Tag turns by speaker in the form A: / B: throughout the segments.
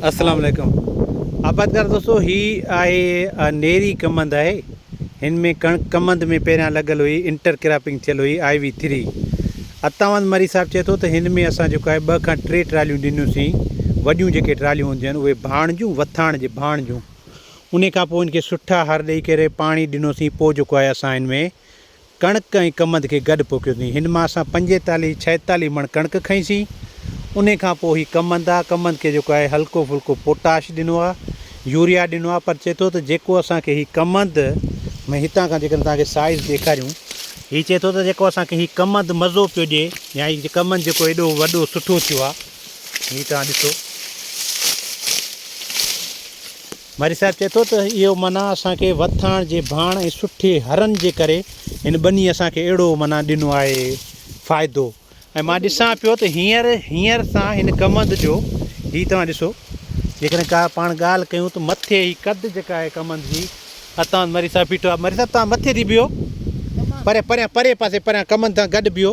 A: السلام عليڪم آبادگار دوستو هي آهي نيري ڪمند آهي هن ۾ ڪڻڪ ڪمند ۾ پهريان لڳل هئي انٽر ڪراپنگ ٿيل هئي آئي وي ٿري اتاوند مري صاحب چئي ٿو ته هن ۾ اسان جيڪو آهي ٻه کان ٽي ٽراليون ڏنيوسين وڏيون جيڪي ٽراليون هونديون آهن اهي ڀاڻ جون وٿاڻ جي ڀاڻ جون ان کان پوء هن کي سٺا هر ڏيئي ڪري پاڻي ڏنوسين پوء جيڪو آهي اسان هن ۾ ڪڻڪ ۽ ڪمند کي گڏ پوکيوسين. هن مان اسان پنجيتاليهه ڇهيتاليهه مڻ ڪڻڪ کنئيسين. انهي کان پوء هي ڪمند آ. ڪمند کي جيڪو آهي هلڪو ڦلڪو پوٽاش ڏنو آ، يوريا ڏنو آ پر چئي ٿو ته جيڪو اسان کي هي ڪمند ۾ هتان کان جيڪڏهن توهان کي سائيز ڏيکاريون، هي چئي ٿو ته جيڪو اسان کي هي ڪمند مزو پيو ڏئي يا هي ڪمند جيڪو ايڏو وڏو سٺو ٿيو آ، هي توهان ڏسو. مارئي صاحب چئي ٿو ته اهو معنيٰ اسان کي وٿاڻ جي ڀاڻ ۽ سٺي هرن جي ڪري هن ٻني اسان کي اهڙو معنيٰ ڏنو آهي فائدو ۽ مان ڏسان پيو ته هينئر هينئر سان هن ڪمند جو هي توهان ڏسو جيڪڏهن ڪا پاڻ ڳالهه ڪيون ته مٿي هي قد جيڪا آهي ڪمند جي اتان مارئي صاحب بيٺو آهي مارئي صاحب توهان مٿي ٿي بيهو پريان پريان پري پاسي پريان ڪمند سان گڏ بيهو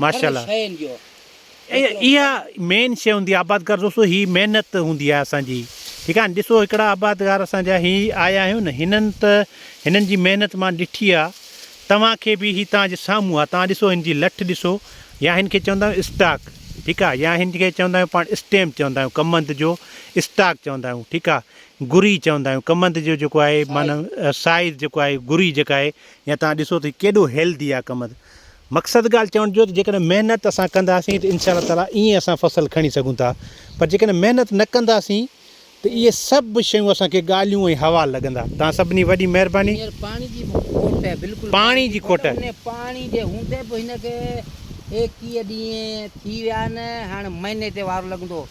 A: ماشاء الله اها مين شي هوندي آبادگار دوستو هي محنت هوندي آهي اسان جي ٺيڪ آهي ڏسو هڪڙا آبادگار اسان جا هي آيا آهيون نه هنن ته هنن جي محنت مان ڏٺي آهي توهان کي به هي توهان جي سامهون آهي توهان ڏسو هن جي لٺ ڏسو يا هن کي چوندا آهيون اسٽاڪ ٺيڪ آهي يا هن کي چوندا آهيون پاڻ اسٽيم چوندا آهيون ڪمند جو اسٽاڪ چوندا آهيون ٺيڪ آهي گري چوندا آهيون ڪمند جو جيڪو آهي معنيٰ سائز جيڪو آهي گري جيڪا آهي يا توهان ڏسو ته هي ڪيڏو هيلدي آهي ڪمند مقصد ڳالهه چوڻ جو ته جيڪڏهن محنت اسان ڪنداسين ته انشاء الله تعالٰي ائين اسان فصل کڻي سگهون ٿا پر جيڪڏهن محنت نه ڪنداسين ته اهي سڀ شيون اسان کي ڳالهيون ۽ حوال لڳندا توهان سڀني وڏي مهرباني. هينئر پاڻي جي به کوٽ آهي بلڪل پاڻي جي کوٽ آهي. انهي پاڻي جي هوندي
B: به هن کي ايڪيهه ڏينهن ٿي ويا آهن هاڻ مهيني تي وارو لڳندو.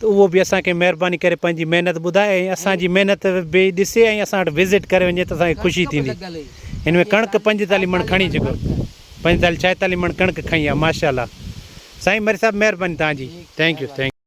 A: ته اهو به اسان کي مهرباني ڪري پنهنجي محنت ٻڌائي ۽ اسان جي محنت به ڏسي ۽ اسان وٽ وزٽ ڪري وڃي ته اسان کي خوشي ٿيندي هن ۾ ڪڻڪ پنجيتاليهه مڻ کڻي چڪو پنجيتاليهه ڇاهيتاليهه مڻ ڪڻڪ کنئي آهي ماشاء الله سائين مري صاحب مهرباني توهان جي ٿينڪ يو ٿينڪ يو.